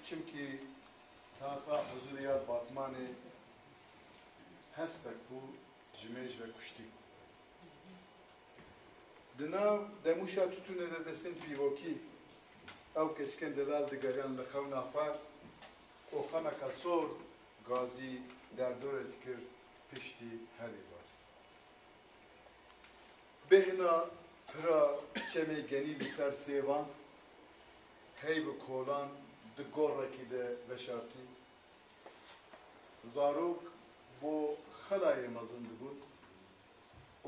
Çimkî taxa huzûrê ya Batmanê hespek bû ji mêj ve kuştî. Di nav demûşa tutûnê de destên pîvokî ew keçikên delal digeriyan li xewna xwe û xemeka sor gazî derdorê dikir piştî herî xwe. Bêhna pira çemê genî li ser sêvan hey bi kolan di gorekî de veşartî. Zarok bo xelayê mezin dibûn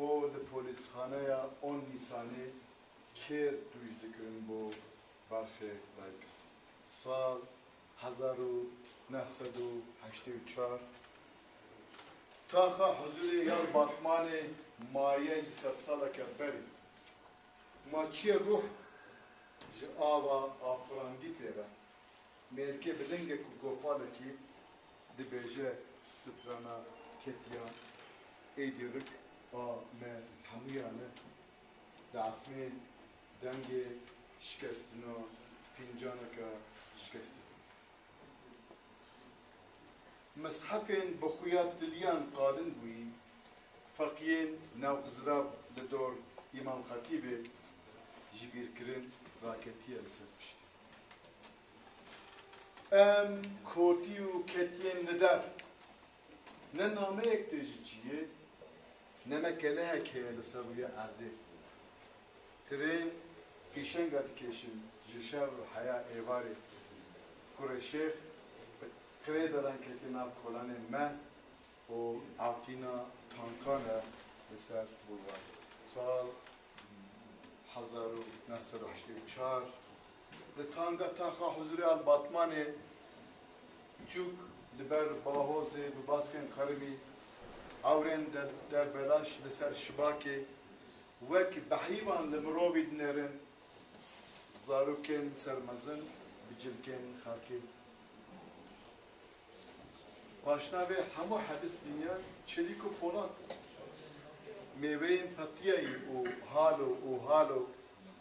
û li polîsxaneya on Nîsanê kêr dûj dikirin bo berxê dayikê. Sal Hezar û neh sed û heştê û çar taxa huzûrê ya li Batmanê maye ji sedsaleke berê. Ma çiyê ruh ji ava afirandî pê ve. Mêrikê bi lingek û gopalekî dibêje strana ketiya êdî rik a me hemûyan e Li asmên dengê şikestina fîncaneke şikestî bû. Meshefên bi xuya tiliyan qalin bûyî, feqiyên nav Xizirav li dor Îmam Xetîbê ji bîr kirin, raketiye li ser piştî. Em kotî û ketiyên li der Ne nameyek tê ji cî yê, ne me kelehek heye li ser rûyê erdê. Tirên pêşenga dikêşin ji şer û heya êvarê. Kurê Şêx bi qirê daran ketiye nav kolanên me û ewtîna tankan e li ser Bulwarê. Sal hezar û neh sed û heştê û çar. Li Tanga Taxa Huzurê a li Batmanê çûk li ber Bahozê bi baskên qerimî hewrên derbelaş li ser Şibakê wek behîvan li mirovî dinêrin, zarokên ser mezin bi cilkên xakî. Paşna vê hemû hebis bîniya çelîk û polat. Mêweyên petiyayî û halo û halo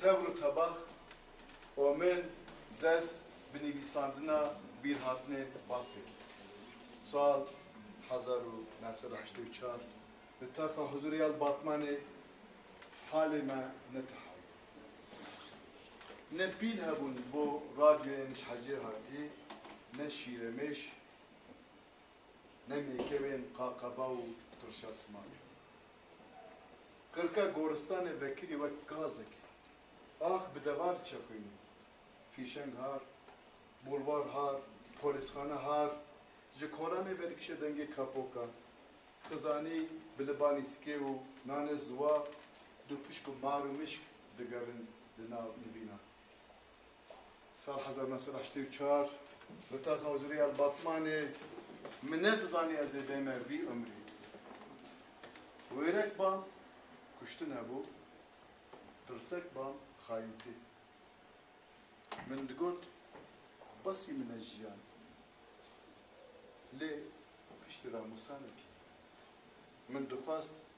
Tevr û tebax, Omên dest bi nivîsandina bîrhatinê bas kir. Sal hezar û neh sed û heştê û çar li Tefa Huzurê ya li Batmanê halê me ne teha bû. Ne pîl hebûn bo radyoyê nişhecê hatî, ne şîremêş, ne mêkevên qaqeba û tirşa simankê. Qirka goristanê vekirî wek gazekî. Ax bi deva diçexûnî. Fîşeng har, bulwar har, polîsxane har, ji kolanê vedikişe dengê kapokan. Xizanî bi libanî sikê û nanê ziwa, dûpişk û mar û mişk digerin li nav nivînan. Sal hezar û neh sed û heştê û çar li taxa huzurê El Batmanê min nedizanî ez ê bême vî umrî. Wêrek bam, kuştin hebû, tirsek bam, xayintî. Min digot basî min e jiyan. Lê piştî ra Mûsa nekî. Min dixwest